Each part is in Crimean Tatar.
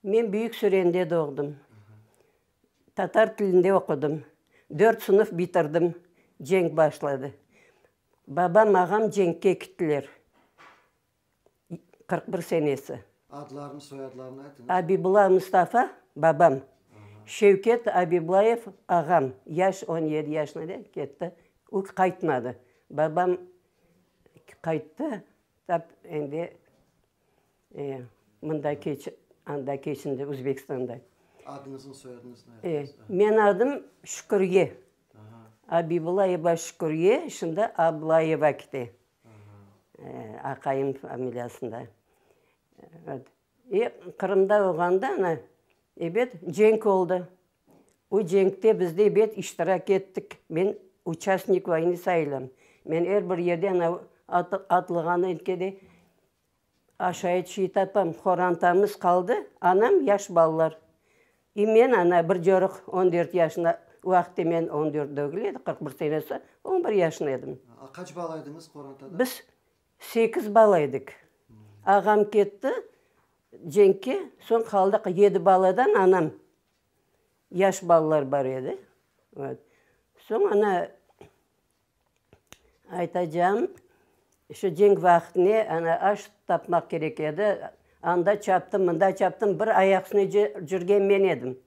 Men Büyük Sürende doğdım. Tatar tilinde oqudım. Dört sınıf bitirdim, cenk başladı. Babam, ağam cenkke kittiler. Qırq bir senesi. Adlarını, soyadlarını aytıñız. Abibula Mustafa, babam. Şevket Abibulayev, ağam. Yaş on yedi yaşına ketti. O, qaytmadı. Babam Qayttı, tap endi mında keçip, anda keçindi, Özbekistanda. Adıñıznı, soyadıñıznı aytıñız. Menim adım Şükürye. Abibullayeva Şükürye, şimdi Ablayeva kete, aqayım familiyasında. Qırımda olğanda ebet, cenk oldı. O cenkte bizde bet iştirak ettik. Men uçastnik vayni sayılam. Men er bir yerden atılğandan ke de aşayet şey tapam. Qorantamız qaldı, anam, yaş balalar. E men ana bir corıq on dört yaşında, o vaqıtta men on dört degil edi, qırq bir senesi, on bir yaşında edim. Qaç bala ediñiz qorantada? Biz Sekiz bala edik. Ağam ketti cenkke, soñ qaldıq yedi baladan, anam, yaş balalar bar edi. Soñ ana, aytacağım, şu cenk vaqtine ana aş tapmaq kerek edi, anda çaptım, mında çaptım, bir ayaq üstüne cürgen men edim.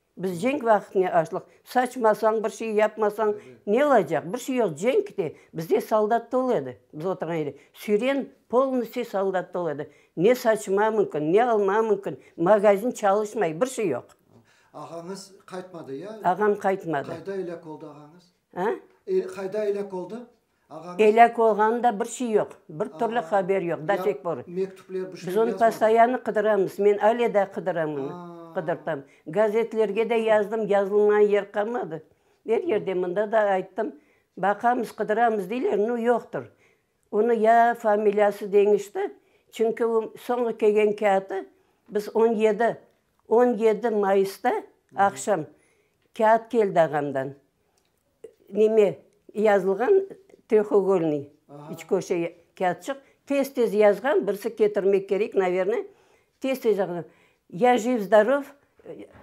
Biz cenk vaqıtne açlıq, saçmasañ, bir şey yapmasañ ne olacaq? Bir şey yoq, cenk de, bizde soldat tolu edi, biz oturğan yerde süren polnıstiy soldat tolu edi, ne saçma mümkün, ne alma mümkün, magazin çalışmay, bir şey yoq. Ağañız qaytmadı ya? Ağam qaytmadı. Qayda elâk oldı ağañız? A? Qayda elâk oldı? Elâk olğanı da bir şey yoq, bir türlü haber yoq, da tek bor. Biz onı postoyanno qıdıramız, men ale daa qıdıram onı, qıdırtam. Gazetlerge de yazdım, yazılmağan yer qalmadı. Er yerde, mında da ayttım, baqamız, qıdıramız deyler, no yoqtır. Onı ya familiyası deñişti, çünki o soñu kelgen kâğıtı biz on yedi, on yedi mayısta aqşam kâğıt keldi ağamdan. Neme, yazılğan trehogolnıy, üç köşe kâğıtçıq, tez-tez yazğan, birisi ketirmek kerek, naverna, tez-tez yazğan, Ya jiv, zdorov,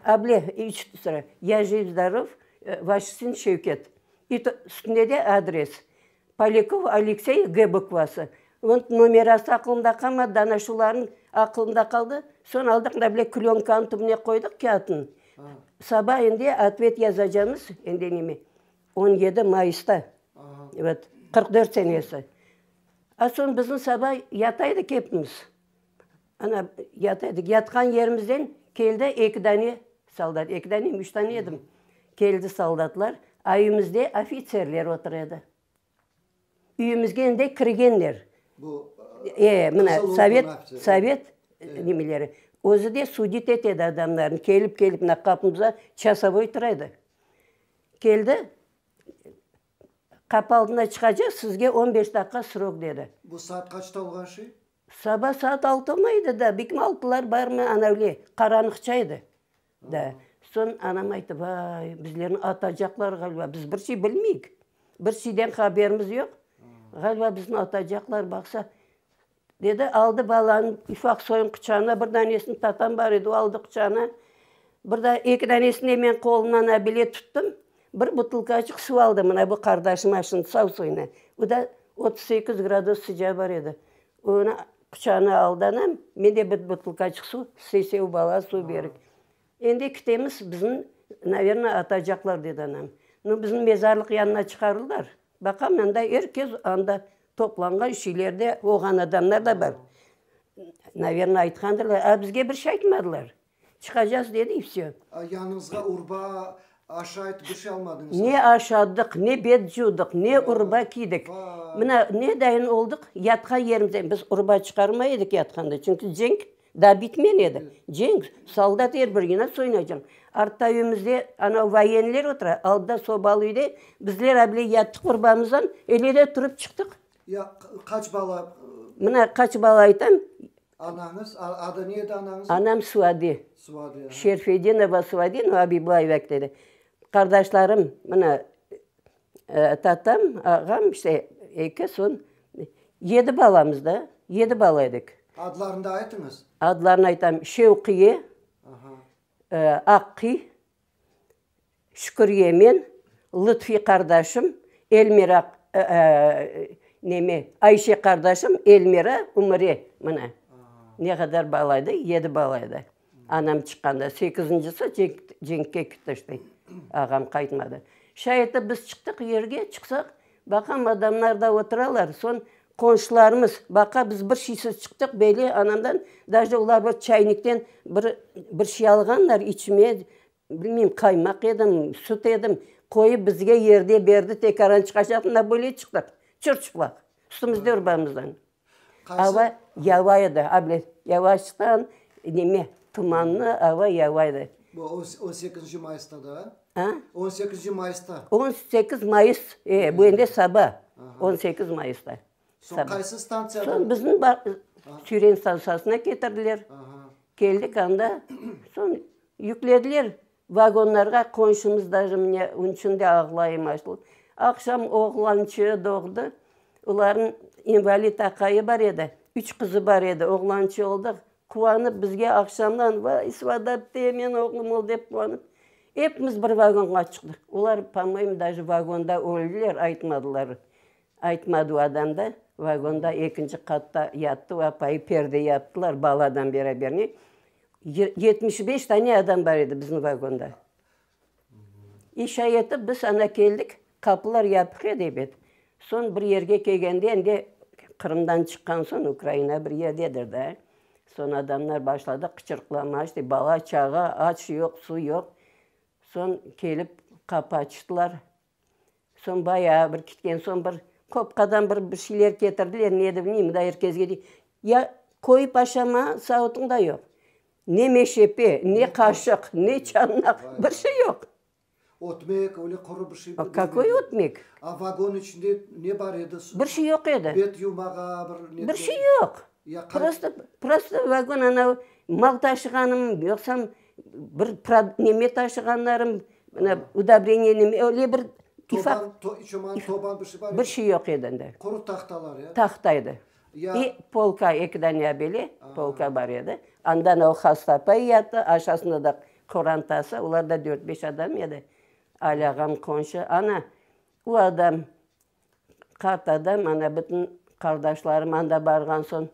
able, üç sıra, Ya jiv, zdorov, Vaşçıçin Şevket, üstünde de adres. Polyakov Aleksey G. bukvası. Onıñ nomerası aqılımda qalmadı, dana şularnıñ aqılımda qaldı. Soñ aldıq mında bile klönkanıñ tübüne qoydıq kâğıtnı. Saba endi otvet yazacamız, endi neme, on yedi mayısta, vat, qırq dört senesi. A soñ bizni saba yataydık epimiz. Ana, yata edik, yatqan yerimizden keldi eki dane soldat, eki danemi, üç dane edim. Keldi soldatlar, ayümizde ofitserler otur edi. Üyümizge endi kirgenler. E, mına, sovet, sovet nemeleri. Özü de sudit et edi adamlarnı, kelip-kelip mına qapımızda çasovoy tura edi. Keldi, Qapı aldına çıqacaq, sizge on beş daqiqa srok dedi. Bu saat qaçta olğan şey? Saba saat altı mı edi da, bikmi altılar barmı, anavle, qaranıqça edi. Da. Soñ anam ayttı, vay, bizlerni atacaqlar ğaliba, biz bir şey bilmeyik, bir şeyden haberimiz yoq, ğaliba bizni atacaqlar, baqsa, Dedi, aldı balanıñ ufaq soyuñ quçağına, bir danesini tatam bar edi, o aldı quçağına, bir da eki danesini de men qolundan abile tuttum, bir butılkaçıq suv aldı, mına bu qardaşım aşın sav suyunı, o da otuz sekiz gradus sıcağı bar edi, onı quçağına aldı anam, men de bir butılkaçıq suv, sesev bala suv berdik. Endi ketemiz, bizni, naverna, atacaqlar, dedi anam. Bizni mezarlıq yanına çıqardılar, baqam, anda er kes, anda Toplanğan şeylerde olğan adamlar da bar. Naverna aytqandırlar, a bizge bir şey aytmadılar. Çıqacaz dedi i vse. A yanıñızğa urba, aşayt bir şey almadıñızmı? Ne aşadıq, ne bet cuvdıq, ne urba kiydik. Mına nedayin olduq, yatqan yerimizden biz urba çıqarmay edik yatqanda, çünki cenk Daa bitmen edi cenk, soldat er bir inat soyunacaq. Artta üyümizde anav voyenler otura, alda sobalı üyde bizler abile yattıq bir bamızdan, ele de turıp çıqtıq. Ya qaç bala? Mına qaç bala aytam. Anañız, adı ne edi anañızın? Anam Suadi. Suadi. Şerfedinova Suadi, no Abiblayev ekte edi. Qardaşlarım, mına Tatam, ağam, işte, eki soñ yedi balamız da, yedi bala edik. Adlarını da aytıñız. Adlarını aytam, Şevqiye, Aqqiy, Şükürye men, Lıtfi qardaşım, Elmira, neme, Ayşe qardaşım, Elmira, Ümüre, mına ne qadar bala edik, yedi bala edik. Anam çıqqanda, sekizincisi cenkke ketişti. Ağam qaytmadı. Şay etip biz çıqtıq yerge, çıqsaq, baqam, adamlar da oturalar. Soñ qonşularımız, baqa biz bir şeysiz çıqtıq, böyle anamdan, daje olar bir çaynikten bir bir şey alğanlar içmeye, bilmeyim, qaymaq edim, süt edim, qoyıp bizge yerde berdi, tekaran çıqacaqtı, na böyle çıqtıq, çır-çıplaq, üstümizde, ürbamızdan. Ava yağay edi, a bile yavaştan, neme, tumanlı ava yağay edi. Bu on, on sekizinci mayısta da? A? On sekizinci mayısta. On sekiz mayıs, e, bu endi saba, on sekiz mayısta. Soñ qaysı stantsiyadan? Soñ bizim ba, Çüren stantsiyasına ketirdiler. Keldik anda, soñ yüklediler. Vagonlarğa qonşumızdaki mine ün çün de ağlayım açlı. Aqşam oğlançığı doğdı. Olarnıñ invalid aqayı bar edi, üç qızı bar edi. Oğlançığı oldı. Quvanıp bizge aqşamdan, vay, Svadatdey men oğlum ol dep quvanıp, epimiz bir vagonğa çıqtıq. Olar, po-moyemu, daje vagonda öldiler, aytmadılar. Aytmadı o adam da, vagonda ekinci qatta yattı, apayı perde yaptılar baladan beraber, ne, yetmiş beş dane adam bar edi bizim vagonda. İş ayetip biz ana keldik, qapılar yapıq edi ebet, soñ bir yerge kelgende endi Qırımdan çıqqan soñ Ukraina bir yerdedir da, soñ adamlar başladı qıçırıqlama işte bala, çağa, aç yoq, su yoq, soñ kelip qapı açtılar. Soñ bayağı bir kitken soñ bir qopqadan bir bir şeyler ketirdiler, ne edi bilmeyim, mında er kezge dey, ya qoyıp aşama sauıtın da yoq, ne meşepe, ne qaşıq, ne çanaq, bir şey yoq. Ötmek, öyle quru bir şey. Qakoy ötmek? A vagon içinde ne bar edi? Bir şey yoq edi. Bet yumağa bir. Bir şey yoq. Prosto, prosto vagon anau mal taşığanım, yoqsam Bir neme taşığanlarım, mına udobreniyenim, öyle bir ufak, bir şey yoq edi endi. Quru tahtalar ya? Tahta edi. Ve polka, eki dane abele polka bar edi. Andan o hasta apa yatı, aşasında da qorantası, olar da dört-beş adam edi. Ali ağam, qonşu, ana, o adam, Qartada mana bütün qardaşlarım anda barğan soñ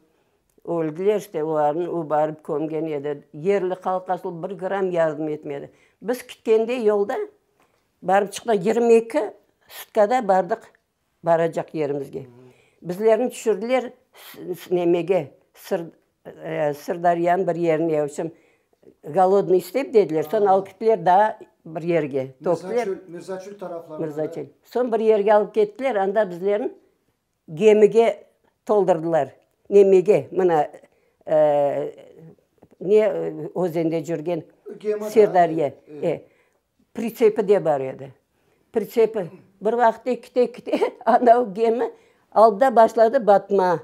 öldiler, işte olarnı o barıp kömgen edi. Yerli halq asıl bir gram yardım etmedi. Biz kütkende yolda barıp çıqtıq, yigirmi eki sutkada bardıq baracaq yerimizge. Bizlerni tüşürdiler nemege, Sırdaryanıñ bir yerine öylesem golodnıy istep dediler, soñ alıp gittiler daa bir yerge. Mirzaçül taraflarına. Mirzaçül. Soñ bir yerge alıp kettiler, anda bizlerni gemige toldurdılar. Nemege, mına ne özende cürgen Sırdarya. Pritsepi de bar edi. Pritsepi. Bir vaqıt ekite-ekite anav gemi aldı da başladı batma.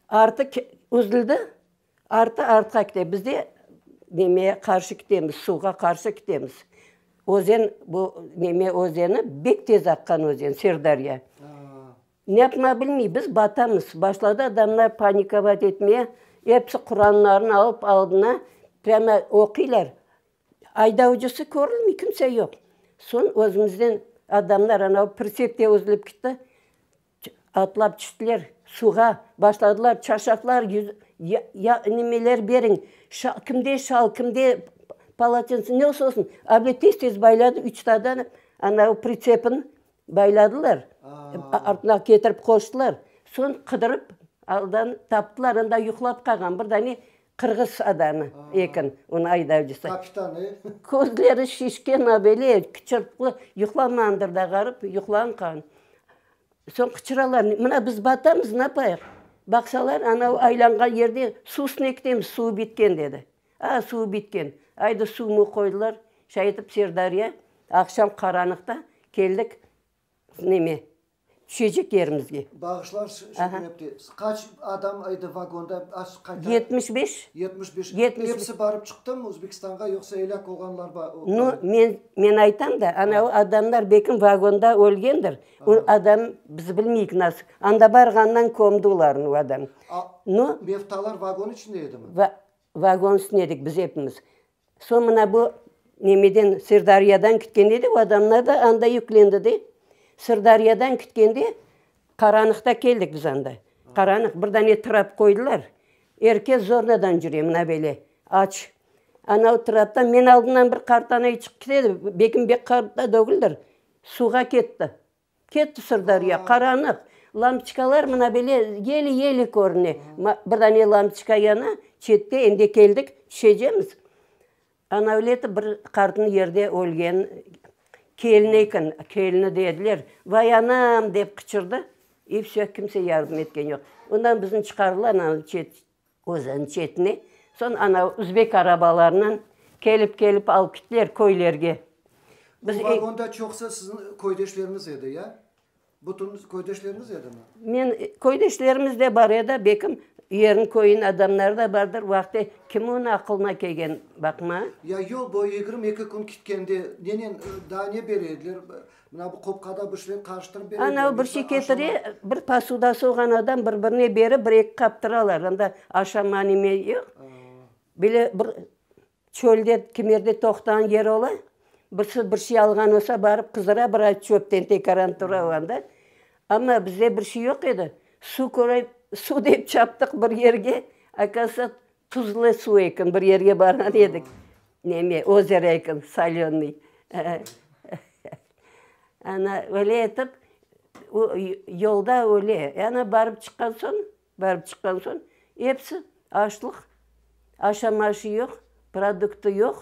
Artı üzüldi, artı artqa kete. Biz de nemeye qarşı ketemiz, suvğa qarşı ketemiz. Özen bu, neme özeni, bek tez aqqan özen, Sırdariya. Ne yapmağa bilmey, biz batamız. Başladı adamlar panikovat etmeye, episi quranlarını alıp aldına, prâma oquylar. Aydavcısı körünmey, kimse yoq. Soñ özümüzden adamlar, anav pritsepte üzülip ketti. Atlap çiştiler suvğa, başladılar çarşaflar, ya nemeler beriñ, kimde şal, kimde palaçints, ne olsa olsun, abile tez tez bayladı, üç tadan anavi pritsepin bayladılar, artına ketirip qoştılar, soñ qıdırıp aldan taptılar, anda yuqlap qalğan, bir dane Qırğız adamı eken onı aydavcısı. Közleri şişken böyle qıçırtıqlı, yuqlamandır da ğarip, yuqlanqan. Soñ qıçıralar, mına biz batamız, napayıq? Baqsalar, anav aylanğan yerde suv üstüne ketemiz, suv bitken dedi. A, suv bitken, aydı suv muv qoydılar, şay etip Serdariya, aqşam qaranıqta keldik neme, Çeceklerimizge. Bağışlañ, şükür epti. Qaç adam edi vagonda? Yetmiş beş. Yetmiş beş. Episi barıp çıqtımı Özbekistanğa, yoqsa elâk olğanlar bar? No, men, men aytam da, ana o adamlar belkim vagonda ölgendir. O adam, biz bilmeyik nasıl. Anda barğandan kömdi olarnı o adam. No. Mevtalar vagon içinde edimi? Vagon üstünde edik biz epimiz. Soñ mına bu nemeden, Sırdâriyadan kütken edi, o adamlar da anda yüklendi de. Sırdâriyadan kütkende qaranıqta keldik biz anda. Qaranıq, bir dane trap qoydılar, er kes zornadan yüre, mına böyle aç. Ana o traptan men aldımdan bir qartanay çıqıp kete edi, Bekim bek qarta dögüldir, suvğa ketti. Ketti Sırdariya, qaranıq. Lampiçkalar mına bele yeli-yeli körüne. Bir dane lampiçka yana, çette, endi keldik, tüşecemiz. Anavleti bir qartnıñ yerde ölgen kelini eken, kelini dediler. Vay, anam! dep qıçırdı. İ vse, kimse yardım etken yoq. Ondan bizni çıqardılar, ana, çet, Özeniñ çetine. Soñ ana üzbek arabalarınen kelip-kelip alıp gittiler köylerge. Bu vagonda çoqusı siziñ köydeşleriñiz edi, ya? Bütün köydeşleriñiz edimi? Men, köydeşlerimiz de bar edi, belkim yerniñ, köyniñ adamları da bardır, vaqte kim onı aqılına kelgen, baqma. Ya yol boyu yigirmi eki kün kitkende nenen, daa ne bere ediler? Mına bu qopqada bir şeyler qarıştırıp bere. Ana o bir şey ketire, bir posuda soğan adam bir birine berip, bir eki qap turalar, onda aşama neme yoq. Böyle bir çölde kimerde toqtağan yer ola, birisi bir şey alğan olsa barıp qızdırıa bir ay çöpten tekaran tura o anda. Amma bizde bir şey yoq edi, suv körey, suv dep çaptıq bir yerge, akazısa Tuzlı suv eken, bir yerge barğan edik, neme, ozero eken, solönıy. Ana, öyle etip, o yolda öyle, ana, barıp çıqqan soñ, barıp çıqqan soñ, episi açlıq, aşam-aşı yoq, produktı yoq.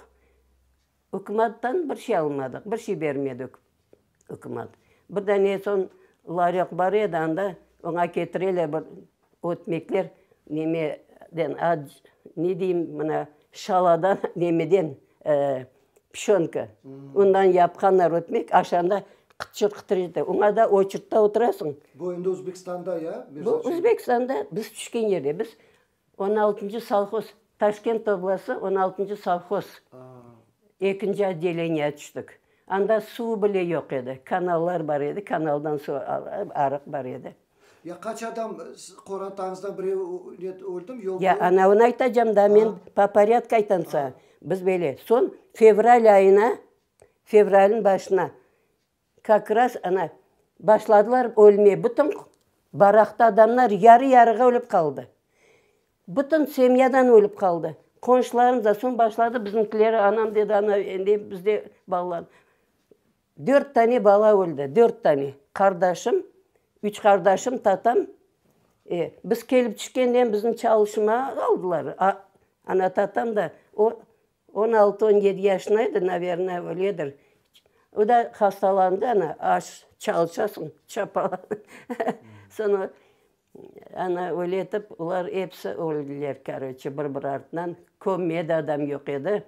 Ükümattan bir şey almadıq, bir şey bermedi ükümat. Bir dane soñ laryoq bar edi, anda oña ketireler bir ötmekler, neme den, ne deyim, mına şaladan, nemeden, pişonka, ondan yapqanlar ötmek, aşanda qıtır qıtır ete, oña da oçurtta oturasıñ. Bu endi Özbekistanda ya? Bu Özbekistanda, biz tüşken yerde. Biz On altıncı sovhoz, Taşkent oblası, on altıncı sovhoz, ekinci otdeleniye tüştik. Anda suv bile yoq edi, kanallar bar edi, kanaldan suv alıp, arıq bar edi. Ya qaç adam qorantañızdan birev öldümi, yoq? Ya, anavını aytacam da men, po porâdku aytam saña. Biz böyle, soñ fevral ayına, fevralniñ başına Kak ras ana, başladılar ölmeye, bütün baraqta adamlar yarı-yarığa ölip qaldı. Bütün semyadan ölip qaldı. Qonşularım da, soñ başladı bizimkiler, anam dedi, ana, endi bizde balalar. Dört tane bala öldi, dört tane. Qardaşım, üç qardaşım, tatam. E, biz kelip tüşkenden bizni çalışmağa aldılar, ana, tatam da. O. On altı, on yedi yaşında edi, naverna, öledir. O da hastalandı, ana, aş çalışasıñ, çapalanıñ. Soñra ana öyle etip, olar episi öldiler, karoçe, bir bir artından. Kömme de adam yoq edi.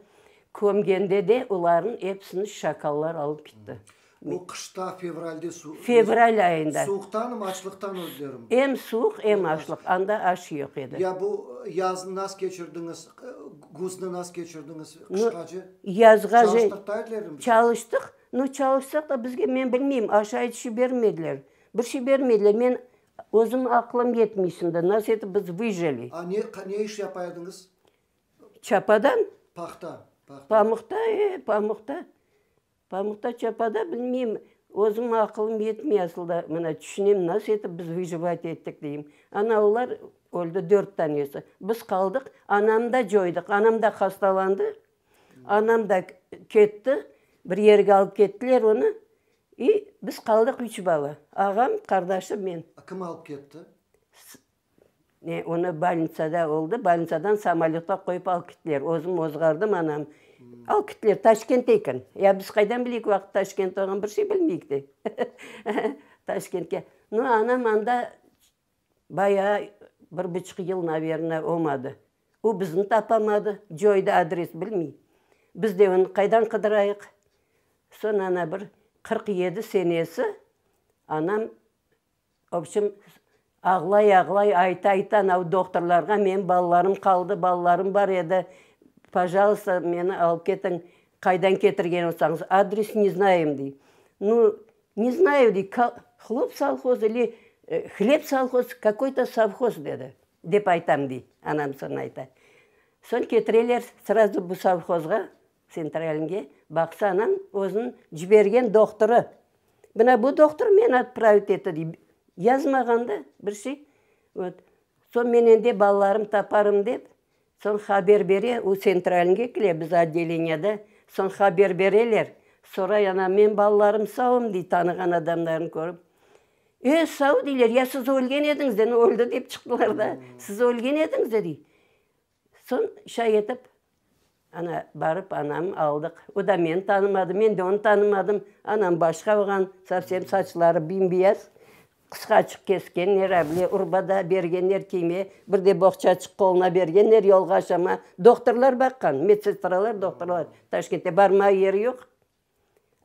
Kömgende de olarnıñ episini şakallar alıp ketti. O, qışta, fevralde su. Fevral ayında. Suuqtanım, açlıqtan özlerim. Em suuq, em açlıq. Anda aş yoq edi. Ya bu yaznı nas keçirdiñiz? Guznı nas keçirdiñiz? Qışqacı. Yazğa. Çalıştıqta aytlerdim. Çalıştıq. No, çalışsaq da bizge, men bilmeyim, aş ayt şey bermediler. Bir şey bermediler. Men özüm aqlım yetmey şimdi, nas etip biz vıjeli. A ne, ne iş yapa ediñiz? Çapadan? Pahta. Pahta. Pamuqta, e, pamuqta. Pamukta çapada bilmeyim, özüm aqılım yetmey asılda, mına tüşünem nasıl etip biz vıjivati ettik deyim. Ana olar öldi dört tanesi, biz qaldıq, anamnı da coydıq, anam da hastalandı, anam da ketti, bir yerge alıp kettiler onı, i biz qaldıq üç bala, ağam, qardaşım, men. Kim alıp ketti? Onı bolnitsada oldı, bolnitsadan samolötqa qoyıp alıp kettiler. Özüm ozğardım, anam. Alıp kettiler, Taşkentte eken. Ya biz qaydan bileyik, o vaqıt Taşkent olğan, bir şey bilmeyik de. Taşkentke. No, anam anda bayağı bir buçuq yıl, naverna, olmadı. O bizni tapamadı, coyda, adres bilmey. Biz de onı qaydan qıdırayıq? Soñ, ana, bir qırq yedi senesi anam Obşim, ağlay-ağlay, ayta-ayta anav doqtorlarğa, menim balalarım qaldı, balalarım bar edi, pajalsta, meni alıp ketiñ, qaydan ketirgen olsañız, adres ne znayım, dey. Nu, ne znayı, dey, hlop salhoz ili hleb salhoz, kakoy to savhoz, dedi, dep aytam, dey, anam soñ ayta. Soñ ketireler, srazu bu savhozğa, Tsentralniñge baqsanañ, özüniñ cibergen doqtorı. Mına bu doqtor meni otpravit etti, dey. Yazmağan da bir şey. Vot. Soñ men endi balalarımnı taparım dep, soñ haber bere, o Tsentralniñge kele, biz otdeleniyede. Soñ haber bereler. Soray, ana, menim balalarım savmı, dey, tanığan adamlarnı körip. E, sav, deyler, ya siz ölgen ediñiz de, öldi dep çıqtılar da, siz ölgen ediñiz de, dey. Soñ çay etip, ana, barıp anam aldıq. O da meni tanımadı, men de onı tanımadım. Anam başqa olğan, sovsem saçları bim-biyaz, qısqaçıq keskenler, avle urbada bergenler kiyme, bir de boğçaçıq qoluna bergenler, yolğa aşama. Doktorlar baqqan, medsestralar, doktorlar. Taşkentte barmağa yeri yoq.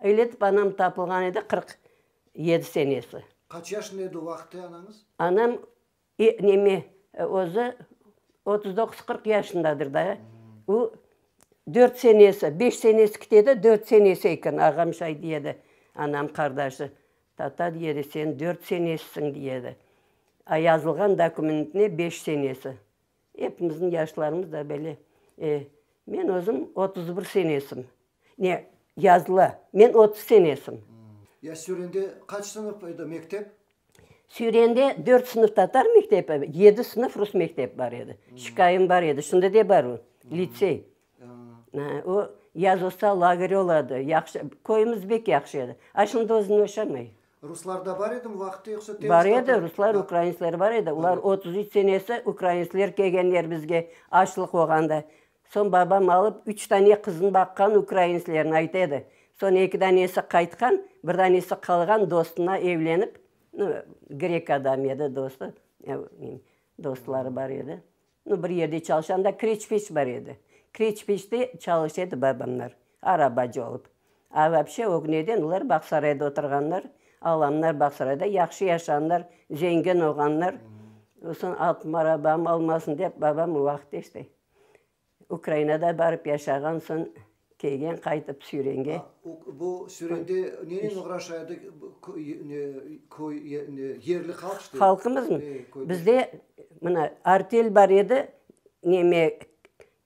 Öyle etip anam tapılğan edi, qırq yedi senesi. Qaç yaşında edi o vaqıtta anañız? Anam E, neme, özü otuz doquz, qırq yaşındadır da. O, dört senesi, beş senesi kitede, dört senesi eken. Ağam şay diye edi, anam qardaşı. Tata, diye edi, sen dört senesisiñ, diye edi. A yazılğan dokumentinde beş senesi. Epimizniñ yaşlarımız da böyle. Men özüm otuz bir senesim. Ne, yazılı, men otuz senesim. Ya Sürende qaç sınıf edi mektep? Sürende dört sınıf tatar mektebi, yedi sınıf rus mektebi bar edi. Şikayem bar edi, şimdi de bar o, litsey. O, yaz olsa, lager oladı. Yahşı, köyümiz bek yahşı edi. A şimdi özüni yaşamay. Ruslar da bar edimi vaqıtta, yoqsa temiz? Bar edi, ruslar, ukrainsler bar edi. Olar otuz üç senesi ukrainsler kelgen yerimizge, açlıq olğanda. Soñ babam alıp, üç tane qızını baqqan ukrainslerni ayta edi. Soñ eki danesi qaytqan, bir danesi qalğan, dostuna evlenip, grek adam edi, dostu, dostları bar edi. No, bir yerde çalışanda Kreçpeç bar edi. Kreçpeçte çalış edi babamlar, arabacı olıp. A vapşe, ögneden olar Bağsarayda oturğanlar, alamlar Bağsarayda, yahşı yaşağanlar, zengin olğanlar. Soñ altın arabam olmasın dep, babam o vaqıt işte Ukrainada barıp yaşağan, soñ Keygen qaytıp Sürenge. Bu Sürende nenen oğraşa edi köy, yerli halq işte? Halqımızmı? Bizde mına artel bar edi, neme,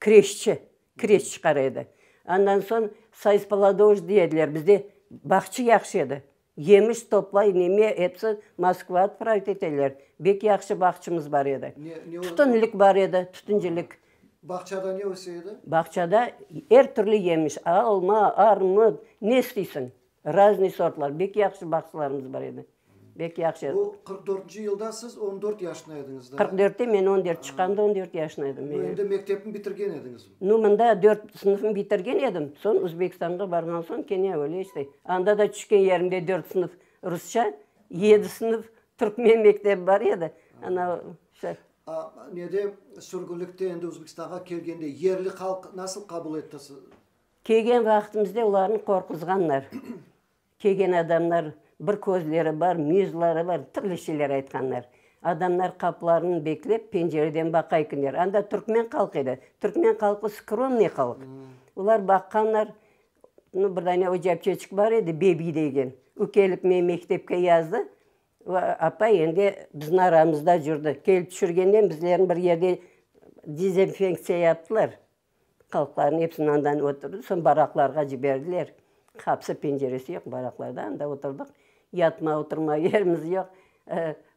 kreşçi, kreş çıqara edi. Andan soñ sayıspoladoj deyediler, bizde bağçı yahşı edi. Yemiş toplay, neme etse, Moskva otpravet eteler. Bek yahşı bağçımız bar edi. Tütünlik bar edi, tütüncilik. Bağçada ne öse edi? Bağçada er türlü yemiş, alma, armut, ne isteysiñ, raznıy sortlar. Bek yahşı bağçılarımız bar edi. Bek yahşı. Bu qırq dörtünci yılda siz on dört yaşında ediñiz da? Qırq dörtte men on dört, çıqqanda on dört yaşında edim. Endi mektepni bitirgen ediñiz? Nu, mında dört sınıfnı bitirgen edim, soñ Özbekistanğa barğan soñ kene öyle işte. Anda da tüşken yerimde dört sınıf rusça, yedi sınıf türkmen mektebi bar edi. Ana, şe. A, nede, sürgünlikte endi Özbekistanğa kelgende yerli halq nasıl qabul etti sizni? Kelgen vaqıtımızda olarnı qorquzğanlar. Kelgen adamlar, bir közleri bar, müyüzleri bar, türlü şeyler aytqanlar. Adamlar qaplarını beklep, pencereden baqayıkınlar. Anda türkmen halqı edi. Türkmen halqı skromnıy halq. Olar baqqanlar, no, bir dane ocapçeçik bar edi, bebi degen. O kelip meni mektepke yazdı. O apa endi bizim aramızda cürdi. Kelip tüşürgenden bizlerni bir yerde dezenfenktsiya yaptılar. Halqlarnı hepsini andan ötürdi, soñ baraqlarğa ciberdiler. Qapısı, penceresi yoq baraqlarda, anda oturdıq. Yatma, oturma yerimiz yoq.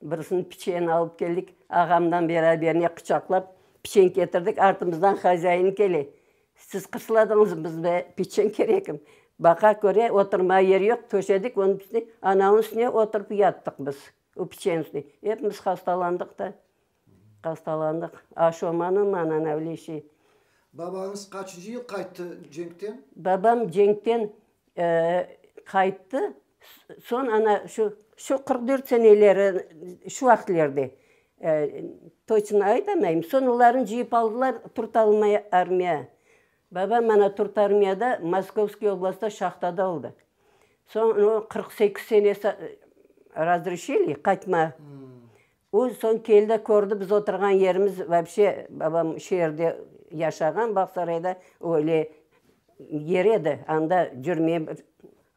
Birisini piçen alıp keldik, ağamdan beraberine quçaqlap piçen ketirdik, artımızdan hozâyini kele, siz qısladınızmı, bizge piçen kerekmi? Baqa köre, oturma yeri yoq, töşedik onı piçni, anavınıñ üstüne oturıp yattıq biz, o piçeniñ üstüne. Hepimiz hastalandıq da. Hastalandıq. Aşomanıñ mananavlişi. Babañız qaçıncı yıl qayttı cenkten? Babam cenkten qayttı, soñ ana şu, şu qırq dört seneleri, şu vaqıtlerde, toçno aytamayım. Soñ olarnı cıyıp aldılar Turtalmay armiya. Babam ana Turtarmiyada, Moskovskiy oblastda şahtada oldı. Soñ qırq sekiz senesi razreşiliy qaytma. O soñ keldi, kördi biz oturğan yerimiz, vapshe, babam şu yerde yaşağan, Bağsarayda, o öyle yer edi, anda cürmey bir,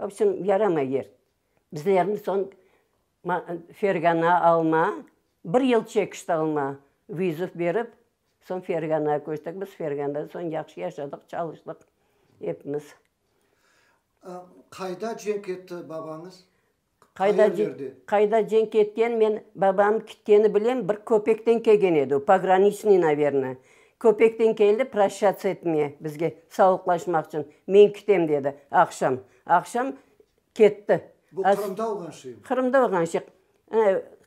vobşem, yaramay yer. Bizlerni soñ Fergana, Alma, bir yıl çekişti Alma, vizüv berip, soñ Fergana köçtik biz, Ferganda soñ yahşı yaşadıq, çalıştıq epimiz. Qayda cenk etti babañız? Qayda cen, qayda cenk etken, men babam kitkeni bilem, bir köpekten kelgen edi o, pograniçnıy, naverna. Köpekten keldi proşats etmeye, bizge sauqlaşmaq içün, men kitem dedi, aqşam. Aqşam ketti. Bu Qırımda olğan şey mi? Qırımda olğan şey.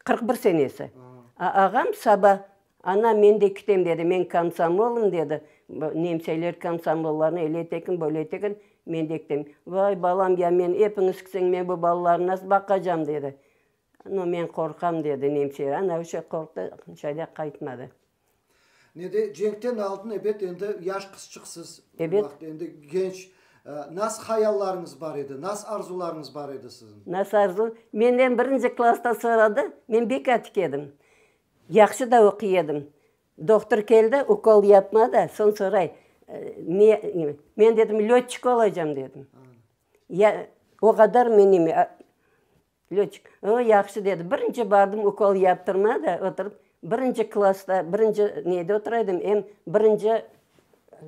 Qırq bir senesi. A, ağam saba Ana, men de kitem, dedi. Men komsomolım, dedi. Nemseler komsomollarnı ele etekin, böyle etekin, men de kitem. Vay, balam, ya men epiñiz kitseniñ, men bu balalarnı nasıl baqacam, dedi. No, men qorqam, dedi nemse. Ana, öyle qorqtı, şayla qaytmadı. Nede, cenkten aldın, ebet, endi yaş qızçıqsız. Ebet. O vaqıt endi genç. Nasıl hayallarıñız bar edi? Nasıl arzularıñız bar edi siziñ? Nasıl arzu? Menden birinci klasstan soradı, men bek atik edim. Yahşı da oquy edim. Doktor keldi, ukol yapma da, soñ soray, ne, men dedim, lötçik olacam dedim. Ya, o qadar menime, lötçik. O, yahşı dedi. Birinci bardım, ukol yaptırma da, oturıp, birinci klassda, birinci neyde otura edim, em birinci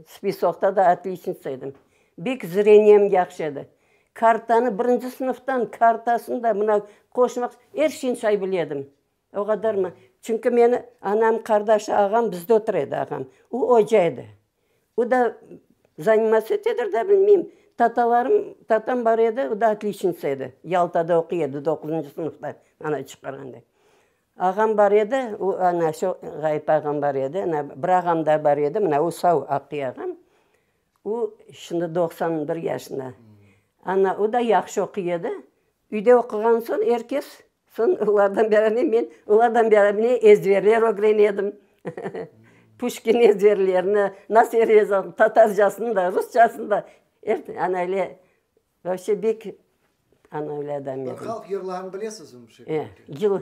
spisoqta da otliçnica edim. Bek zreniyem yahşı edi. Kartanı, birinci sınıftan kartasını da, mına, qoşmaq, er şeyni say bile edim. O qadarmı? Çünki meni anam, qardaşı, ağam bizde otur edi, ağam. O oca edi. O da zanimatsiya etedir da, bilmeyim. Tatalarım, tatam bar edi, o da otliçnitsa edi. Yaltada oquy edi, doquzıncı sınıfta ana çıqarğanda. Ağam bar edi, o ana şu Ğayıp ağam bar edi, ana bir ağam da bar edi, mına o sav, aqıy ağam. O şimdi doqsan bir yaşında. Ana o da yahşı oquy edi. Üyde oquğan soñ er kes, soñ olardan beraber men, olardan beraber ezberler ögrenedim. Puşkin ezberlerini, nasıl yazıladı, tatarcasını da, rusçasını da, er, ana öyle, vapşe bek, ana öyle adam edim. Halq yırlarını bilesizmi? E, yıl.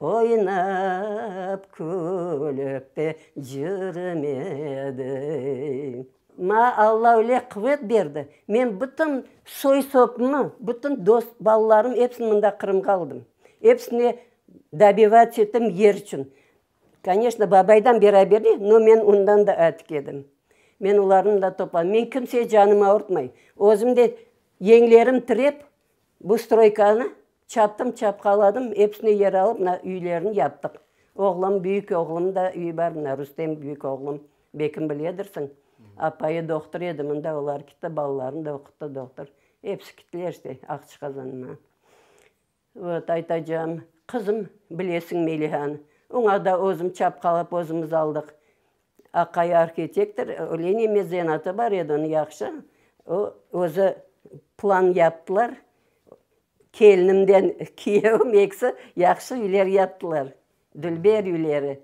Oynap, külip de cürmedim. Maña Alla öyle quvet berdi, men bütün soy-sopumı, bütün dost balalarım epsini mında Qırımğa aldım. Epsine dobivac ettim yer içün. Koneşno, babaydan beraberlik, no men ondan da atik edim. Men olarnı da topladım. Men kimseye canım ağırtmay. Özüm de yeñlerim tirep, bu stroykanı Çattım, çapqaladım, episini yer alıp, mına, üylerini yaptıq. Oğlum, büyük oğlum da üy bar, mına, Rustem, büyük oğlum, bekim biledirsiñ, apayı doqtur edi, mında olar kitti, balalarını da oquttı, doqtur, episi kittiler işte, Aqçıqazanma. Vot, aytacağım, qızım, bilesiñ Melihanı, oña da özüm çapqalap, özümiz aldıq. Aqay arhitektor, Leniye mezenatı bar edi onıñ, yahşı, o, özü plan yaptılar, kelinimden kiyevim ekisi yahşı üyler yaptılar, dülber üyleri.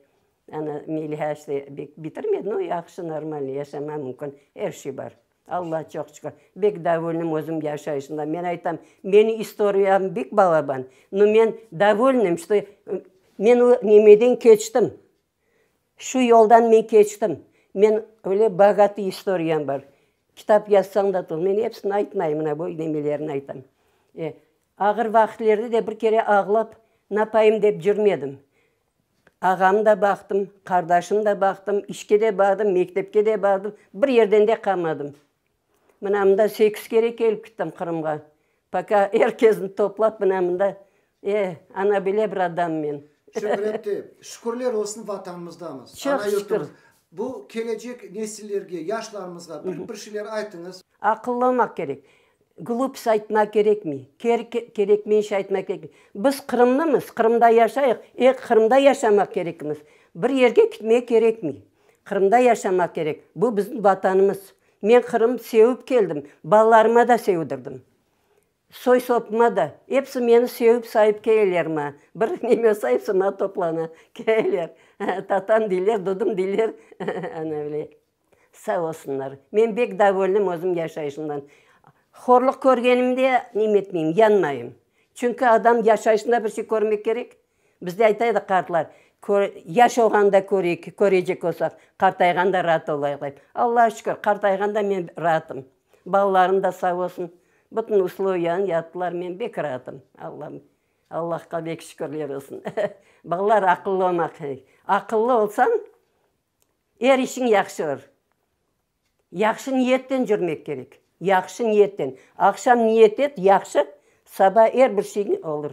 Ana, Meliha işte bek bitirmedi, no, yahşı, normalniy, yaşamağa mümkün, er şey bar. Allaha çoq şükür, bek davolnim özüm yaşayışımdan, men aytam, meniñ istoriyam bek balaban, no men davolnim, işte men o nemeden keçtim. Şu yoldan men keçtim. Men öyle bogatı istoriyam bar. Kitap yazsañ da tut. Men epsini aytmayım, mına bu nemelerini aytam. E, ağır vaqitlerde de bir kere ağlap napayım dep cürmedim. Ağamnı da baqtım, qardaşımnı da baqtım, işke de bardım, mektepke de bardım, bir yerden de qamadım. Mına mında sekiz kere kelip kittim Qırımğa. Poka er kesni toplap mına mında, e, ana bile bir adam men. Şöhretli, şükürler olsun Vatanımızdamız. Çoq şükür. Bu kelecek nesillerge, yaşlarımızğa bir bir şeyler aytıñız. Aqıllı olmaq kerek. Glupst aytmaq kerekmey. Kerekmey iş aytmaq kerekmey. Biz Qırımlımız, Qırımda yaşayıq, e, Qırımda yaşamaq kerekmiz. Bir yerge kitmek kerekmey. Qırımda yaşamaq kerek. Bu bizim Vatanımız. Men Qırım sevip keldim, balalarıma da sevdirdim, soy-sopuma da. Episi meni sevip saip keleler ma, bir neme olsa episi mana toplana keleler, tatam deyler, dudım deyler, ana böyle. Sağ olsunlar, men bek davolnim özüm yaşayışımdan. Horluq körgenimde neme etmeyim, yanmayım. Çünki adam yaşayışında bir şey körmek kerek, Bizde ayta edi qartlar, Yaş olğanda köreyik, köreycek olsaq, qartayğanda raat olayıq, dep. Allağa şükür, qartayğanda men raatım. Balalarım da sağ olsun, bütün usloviyanı yaptılar, men bek raatım. Allam, Allahqa bek şükürler olsun. Balalar aqıllı olmaq kerek. Aqıllı olsañ, er işiñ yahşı olur. Yahşı niyetten yürmek kerek, yahşı niyetten. Aqşam niyet et yahşı, saba er bir şeyiñ olur.